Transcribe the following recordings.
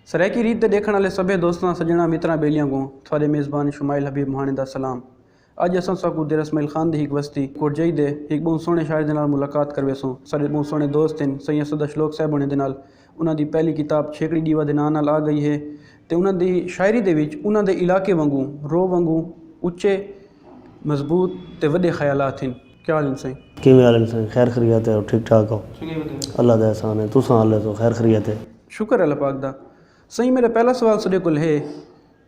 سرائیکی ریت تے ڈیکھن والے سبھے دوستاں سجناں متراں بیلیاں کوں تھوڑے میزبان شمائل حبیب مہانے دا سلام اج اساں ساکوں دیر اسماعیل خان دی ہک وستی کوٹجائی دے ہک بہوں سوہنے شاعر دے نال ملاقات کرویسوں ساڈے بہوں سوہنے دوست ہن سئیں اسد اشلوک صاحب ہونے دے نال انہاں دی پہلی کتاب چھیکڑی ݙیوا دے ناں نال آ ڳئی ہے تے انہاں دی شاعری دے وچ انہاں دے علاقے وانگوں رو وانگوں اچے مضبوط تے وݙے خیالات ہن۔ کیا حال ہن سائیں؟ کیویں حال ہن سائیں؟ خیر خریت ہے او ٹھیک ٹھاک ہو؟ اللہ دا احسان ہے تساں آلے سو خیر خریت ہے؟ شکر ہے اللہ پاک دا۔ سائیں میݙا پہلا سوال سݙے کول ہے۔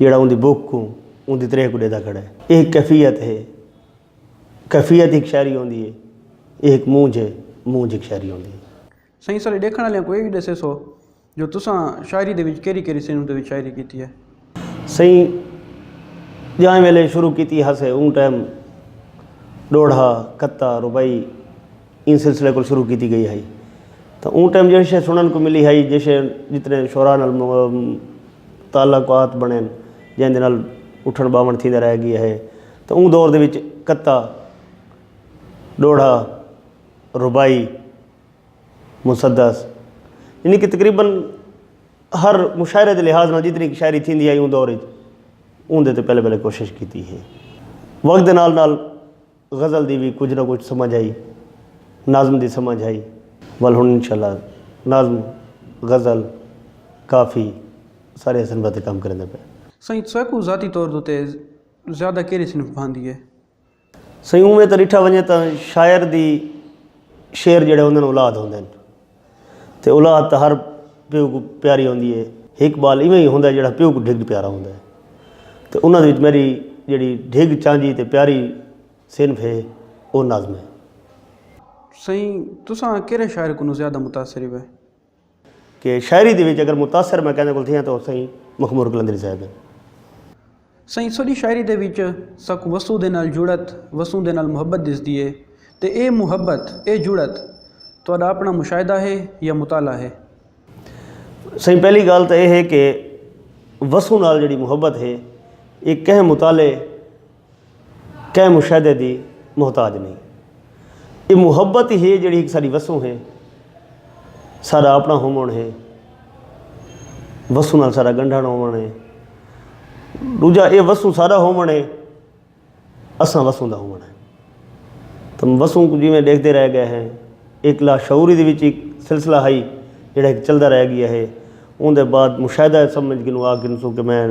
جیڑھا اوندی بھک کوں اوندی تریہہ کوں ڈیدا کھڑے۔ ایہ ہک کیفیت ہے۔ کیفیت ہک شاعری ہوندی ہے۔ ایہ ہک مونجھ ہے۔ مونجھ ہک شاعری ہوندی ہے۔ سائیں سارے ڈیکھن آلیاں کوں ایہ وی ڈسیسو جو تساں شاعری دے وچ کیرھی کیرھی صنف دے وچ شاعری کیتی ہے۔ سائیں جائیں ویلے شروع کیتی ہاسے اوں ٹائم ڈوڑھا، کھتا، رباعی۔ ایں سلسلے کول شروع کیتی گئی ہئی تاں اوں ٹائم جیہڑی شے سنڑن کوں ملی ہئی جیہڑے جتنے شعراء نال تعلقات بنڑین جیندے نال اٹھنڑ باونڑ تھیندے رہ گئے ہئی تاں اوں دور دے وچ کتا ڈوہڑا رباعی مسدس یعنی کہ تقریبا ہر مشاعرے دے لحاظ نال جتنی شاعری تھیندی ہئی اوں دور وچ اوں دے تے پہلے پہلے کوشش کیتی ہئی وقت دے نال نال غزل دی وی کجھ نہ کجھ سمجھ ہئی۔ نظم دی سمجھ ہئی۔ ول ہن انشاء اللہ نظم، غزل، کافی سارے صنفاں تے کم کریندے پئے۔ سئیں تساکوں ذاتی طور دو تے زیادہ کیرھی صنف بھاندی ہے؟ سئیں اونویں تاں ڈٹھا ونجے تاں شاعر دی شعر جیڑھے ہوندن اولاد ہوندن۔ تے اولاد تاں ہر پیو کوں پیاری ہوندی ہے۔ ہک ٻال ایویں ہی ہوندا ہے جیڑھا پیو کوں ڈھڳ پیارا ہوندا ہے۔ تے انہاں دے وچ میݙی جیڑھی ڈھڳ چانجھی تے پیاری صنف ہے او نظم ہے۔ سئیں تساں کیرھے شاعر کنوں زیادہ متاثر ہوئے؟ کہ شاعری دے وچ اگر متاثر میں کیندے کول تھیاں تاں او سئیں مخمور قلندری صاحب ہن۔ سئیں سݙی شاعری دے وچ ساکوں وسوں دے نال جڑت، وسوں دے نال محبت ݙسدی ہے تے ایہ محبت، ایہ جڑت تہاݙا اپݨا مشاہدہ ہے یا مطالعہ ہے؟ سئیں پہلی ڳالھ تاں ایہ ہے کہ وسوں نال جیڑھی محبت ہے ایہ کہیں مطالعے، کہیں مشاہدے دی محتاج نئیں۔ ایہ محبت ای ہے جیڑھی ہک ساݙی وسوں ہے۔ ساݙا آپݨا ہووݨ ہے۔ وسوں نال ساݙا ڳنڈھݨ ہووݨ ہے۔ ݙوجھا ایہ وسوں ساݙا ہووݨ ہے۔ اساں وسوں دا ہووݨ ہے۔ تاں وسوں کوں جیویں ݙیکھدے رہ ڳئے ہیں۔ ایک لاشعوری دے وچ ہک سلسلہ ہئی جیڑھا ہک چلدا رہ ڳیا ہے۔ اوندے بعد مشاہدہ اے سمجھ کنوں آ گھنسوں کہ میں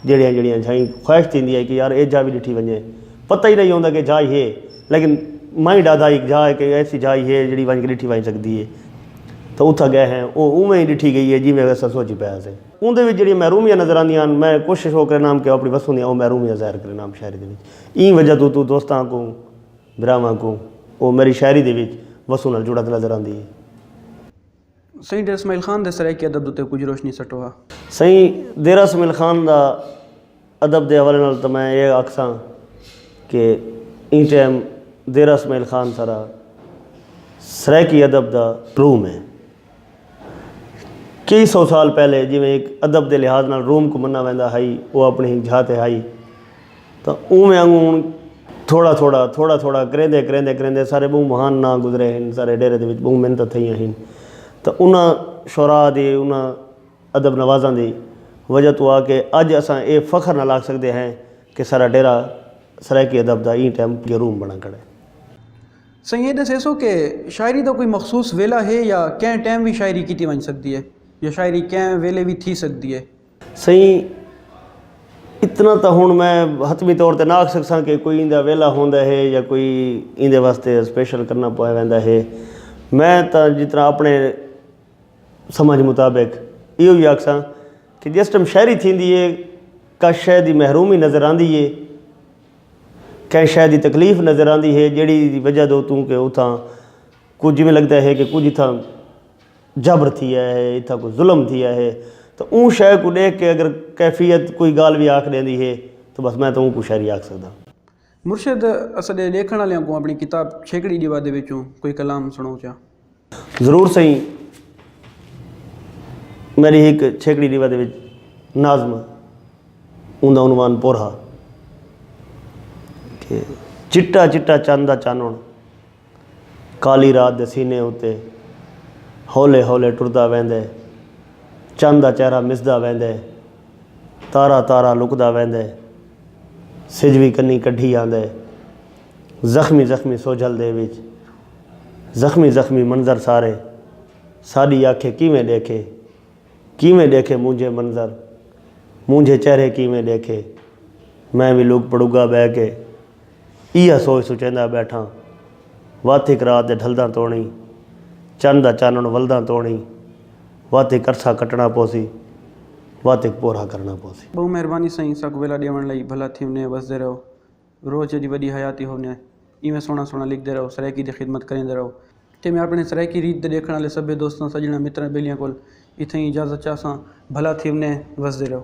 جیڑھیاں جیڑھیاں جھائیں خواہش تھیندی ہئی کہ یار اے جھا وی ڈٹھی ونجے پتہ ہی نئیں ہوندا کہ جھائی ہے لیکن مائیں ڈادا ہک جھا ہے کہ ایسی جھائی ہے جیڑھی ونج کے ڈٹھی ونج سکدی ہے تاں اتھاں گئے ہیں او اونویں ہی ڈٹھی گئی ہے جیویں اساں سوچی پئے ہاسے۔ اوندے وچ جیڑھیاں محرومیاں نظر آندیاں ہن میں کوشش او کرینداں ہم کہ اپنی وسوں دیاں او محرومیاں ظاہر کرینداں ہم شاعری دے وچ ایں وجہ توں توں دوستاں کوں بھراواں کوں او میری شاعری دے وچ وسوں نال جڑت نظر آندی ہے۔ سئیں ڈیرہ اسماعیل خان دے سرائیکی ادب اتے کجھ روشنی سٹو ہا۔ سئیں ڈیرہ اسماعیل خان دا ادب دے حوالے نال تاں میں ایہ آکھساں کہ ایں ٹائم ڈیرہ اسماعیل خان سارا سرائیکی ادب دا روم ہے۔ کئی سو سال پہلے جیویں ہک ادب دے لحاظ نال روم کوں منا ویندا ہئی او اپݨی ہک جھا تے ہئی۔ تاں اونویں آنگوں ہن تھوڑا تھوڑا تھوڑا تھوڑا کریندے کریندے کریندے سارے ٻہوں مہان ناں گزرے ہن سارے ڈیرے دے وچ ٻہوں محنتاں تھئیاں ہن تاں انہاں شعراء دی انہاں ادب نوازاں دی وجہ توں آ کے اڄ اساں اے فخر نال آکھ سڳدے ہیں کہ سارا ڈیرہ سرائیکی ادب دا ایں ٹائم جروم بݨا کھڑا ہے۔ سئیں اے ݙسیسو کہ شاعری دا کوئی مخصوص ویلھا ہے یا کئیں ٹائم وی شاعری کیتی ونڄ سڳدی ہے یا شاعری کئیں ویلھے وی تھی سڳدی ہے؟ سئیں اتنا تاں ہن میں حتمی طور تے نہ آکھ سکساں کہ کوئی ایندا ویلا ہوندا ہے یا کوئی ایندے واسطے اسپیشل کرنا پوے ویندا ہے میں تاں جتنا اپنے سمجھ مطابق ایہو ہی آکھساں کہ جس ٹائم شاعری تھیندی ہے کا شے دی محرومی نظر آندی ہے کہیں شے دی تکلیف نظر آندی ہے جیڑھی وجہ دو توں کہ اتھاں کجھ جیویں لگدا ہے کہ کجھ اتھاں جبر تھیا ہے اتھاں کوئی ظلم تھیا ہے تاں اوں شے کوں ݙیکھ کے اگر کیفیت کوئی ڳالھ وی آکھ ݙیندی ہے تاں بس میں تاں اونکوں شاعری آکھ سڳداں۔ مرشد اساݙے ݙیکھݨ آلیاں کوں آپݨی کتاب چھیکڑی ݙیوا دے وچوں کوئی کلام سݨاؤ چا۔ ضرور سئیں میݙی ہک چھیکڑی ݙیوا دے وچ ناظم ہے اوندا عنوان پر ہا کہ چٹا چٹا چن دا چانݨ کالی رات دے سینے اتے ہولے ہولے ٹردا ویندے چن دا چہرہ مسدا ویندے تارا تارا لکدا ویندے سجھ وی کنی کڈھی آندے زخمی زخمی سوجھل دے وچ زخمی زخمی منظر سارے ساڈی آکھیں کیویں ڈیکھے کیویں ڈیکھے مونجھے منظر مونجھے چہرے کیویں ڈیکھے میں وی لک پڑگا بہہ کے ایہا سوچ سوچیندا ٻیٹھاں وت ہک رات دے ڈھلداں توڑیں چن دا چانݨ ولداں توڑیں وت ہک عرصہ کٹݨا پوسی وت ہک پورھا کرݨا پوسی۔ ٻہوں مہربانی سئیں ساکوں ویلا ݙیوݨ لئی بھلا تھیونے وسدے رہو روز جیݙی وݙی حیاتی ہوونے ایویں سوہݨا سوہݨا لکھدے رہو سرائیکی دی خدمت کریندے رہو تے میں آپݨے سرائیکی ریت دے ݙیکھݨ آلے سبھے دوستاں سڄݨاں متراں ٻیلیاں کول اتھائیں اجازت چاہساں بھلا تھیونے وسدے رہو۔